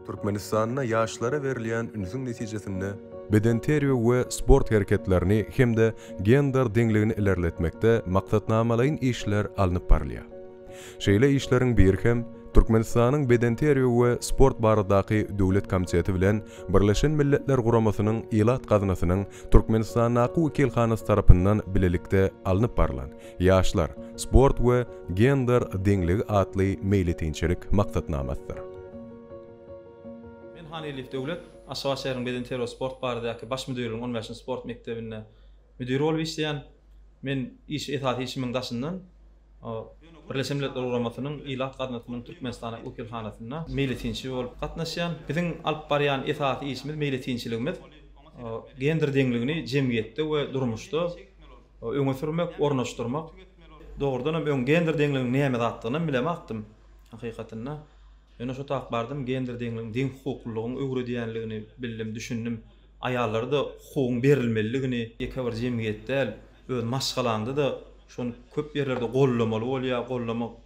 Türkmenistanda ýaşlara berilýän ünsüň netijesinde, bedenterbiýe we sport hereketlerini hem-de gender deňligini ilerletmekde maksatnamalaýyn işler alnyp barylýar. Şeýle işleriň biri hem Türkmenistanyň Bedenterbiýe we sport baradaky döwlet komiteti bilen Birleşen Milletler Guramasynyň Ilat gaznasynyň Türkmenistandaky wekilhanasy tarapyndan bilelikde alnyp barylan Ýaşlar, sport we gender deňligi atly meýletinçilik maksatnamasydyr. Men Han Elif Döwlet, Aşgabat şäheriniň Bedenterbiýe we sport baradaky Baş müdirligiň on bäşinji sport mekdebinde müdir bolup işleýän. Men iş, esasy işimiň daşyndan Birleşen Milletler Guramasynyň Ilat gaznasynyň Türkmenistandaki wekilhanasynda meýletinçi bolup gatnaşýan. Biziň alyp barýan esasy işimiz, meýletinçiligimiz gender deňligini jemgyýetde we durmuşda Öňe sürmek, ornaşdyrmak. Dogrudan hem öň gender deňligiň näme zatdygynam bilemakdym, hakykatynda. Ýöne şo tap bardym, gender deňligiň, deňhukuklylygyň öwredýänligini bildim, düşündim. Aýallara-da hukugyň berilmeliligini, ýeke bir jemgyýet däl, öz maşgalaňda-da şony köp ýerlerde goldamaly bolýar, goldamak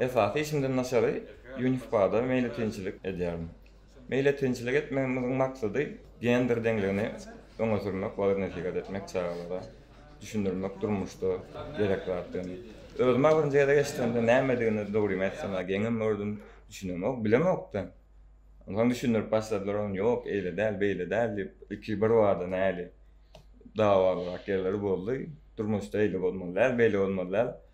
Esasy işimden daşary UNFPA-da meýletinçilik edýärin. Meýletinçilik etmegimiziň maksady gender deňligini öňe sürmek, wagyz-nesihat etmek, çagalara düşündirmek durmuşda gerek zatdygyny. Özüm-ä birinji gezek eşidemde nämedigini dogrymy aýtsam-a geňem gördüm, düşünemok, bilemok-da. Onsoň düşündirip başladylar ony, ýok, eýle däl, beýle däl diýip, ilki birbada näli dawalyrak ýerleri boldy. Durmuşda eýle bolmaly däl, beýle bolmaly däl.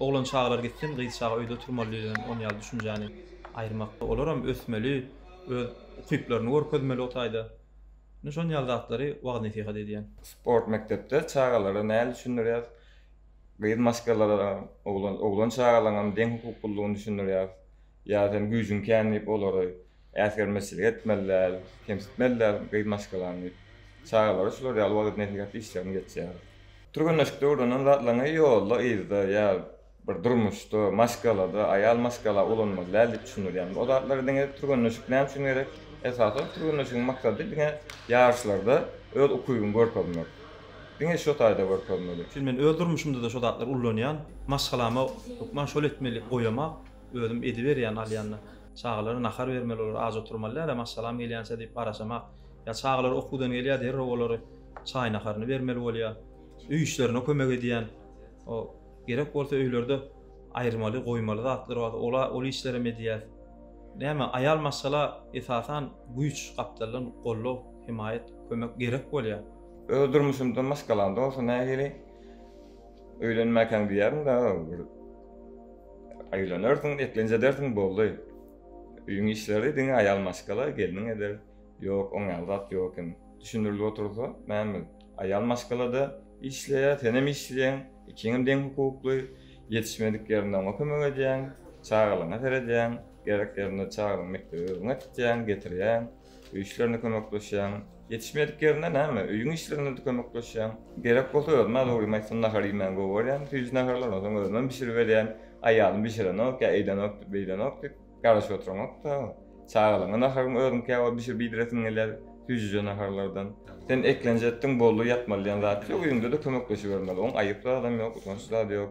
Oglan çagalar gitsin, gyz çaga öýde oturmaly diýlen on ýaly düşünjäni aýyrmakda, olaram ösmeli, öz ukyplaryny görkezmeli o taýda. Ine şon ýaly zatlary wagyz-nesihat edýän. Sport mekdepde çagalara nädip düşündirýäs? Gyz maşgalalara, oglan, oglan çagalaňam deň hukuklylygyny düşündirýäs. Ýa sen güýjüň kän diýip olary Äsgermezçilik etmeli däl, kemsitmeli däl gyz maşgalany diýip, çagalara şular ýaly wagyz-nesihat işlerini geçýäris. Türgenleşikde öwrenen zatlaryňy ýolda, yzda ýa bir durmuşda, maşgalada, aýal maşgala ulanmaly däl diýip düşündirýärin. O zatlary diňe türgenleşik näme üçin gerek? Esasan türgenleşigiň maksady diňe ýaryşlarda öz ukybyňy görkezmek. Diňe şo taýda görkezmeli. Çünki men öz durmuşymda-da şo zatlary ullanýan. Maşgalama hökman şol etmeli goýamak, özüm ediberýän alýanda. Çagalara nahar bermeli, olar aç oturmaly däl-ä, maşgalam gelýänçä diýip garaşamak. Ýa çagalar okuwdan gelýär, derrew olary çaý-naharyny bermeli bolýar. Öý işlerine kömek edýän, o gerek bolsa öýlerde aýyrmaly, goýmaly zatlar bar, ola ol işlerem edýär. Näme, aýal maşgala esasan güýç, gapdaldan goldaw, hemaýat, kömek gerek bolýar. Öz durmuşymda maşgalamda bolsa nähili? Öýlenmäkäň diýýärin dagy bir öýlenersiň, eklenç edersiň boldy. Öýüň işleri diňe aýal maşgala, gelniň eder. Ýok, oň ýaly zat ýok eken. Düşündirilip otursa, näme? Aýal maşgala-da işleýär, senem işleýäň, ikiňem deň hukukly. Ýetişmedik ýerinde oňa kömek edýäň, çagalaryňa seredýäň, gerek ýerinde çagalaryňy mekdebe özüň äkitýäň, getirýäň. Öý işlerinde kömekleşýäň. Ýetişmedik ýerinde näme, öýüň işlerinde-de kömekleşýäň. Gerek bolsa özüm az ugrim aýtsam nahar iýmän gowarýan, süýji naharlar, ondan soň özümem bişirip berýän. Aýalym bişirenok ýa eýdenok, beýdenok diýip, garaşyp oturanok-da. Çagalaryňa naharyňy özüňkä bolup bişirip iýdiresiň gelýär, süýjüje naharlardan. Sen eklenji etdiň, boldy, ýatmaly diýen zat ýok, öýüňde-de kömekleşibermeli. Oň aýyp zadam ýok, utanç zady ýok.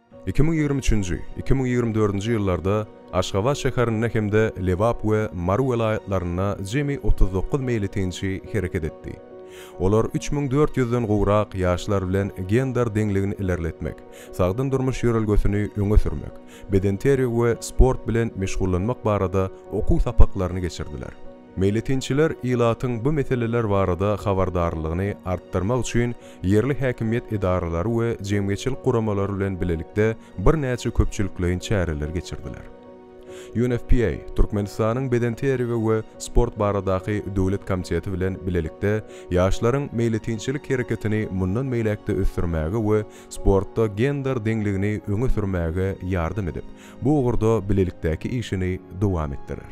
Iki müň ýigrimi üçünji, iki müň ýigrimi dördünji ýyllarda Aşgabat şäherinde hem-de Lebap we Mary welaýatlarynda jemi otuz dokuz meýletinçi hereket etdi. Olar üç müň dört ýüzden gowrak ýaşlar bilen gender deňligini ilerletmek, sagdyn durmuş ýörelgesini öňe sürmek, bedenterbiýe we sport bilen meşgullanmak barada okuw sapaklaryny geçirdiler. Meýletinçiler ilatyň bu meseleler barada habardarlygyny artdyrmak üçin ýerli häkimiýet edaralary we jemgyýetçilik guramalary bilen bilelikde birnäçe köpçülikleýin çäreler geçirdiler. UNFPA Türkmenistanyň Beden terbiýe we sport baradaky döwlet komiteti bilen bilelikde ýaşlaryň meýletinçilik hereketini mundan beýläk-de ösdürmäge we sportda gender deňligini öňe sürmäge ýardam edip, bu ugurda bilelikdäki işini dowam etdirer.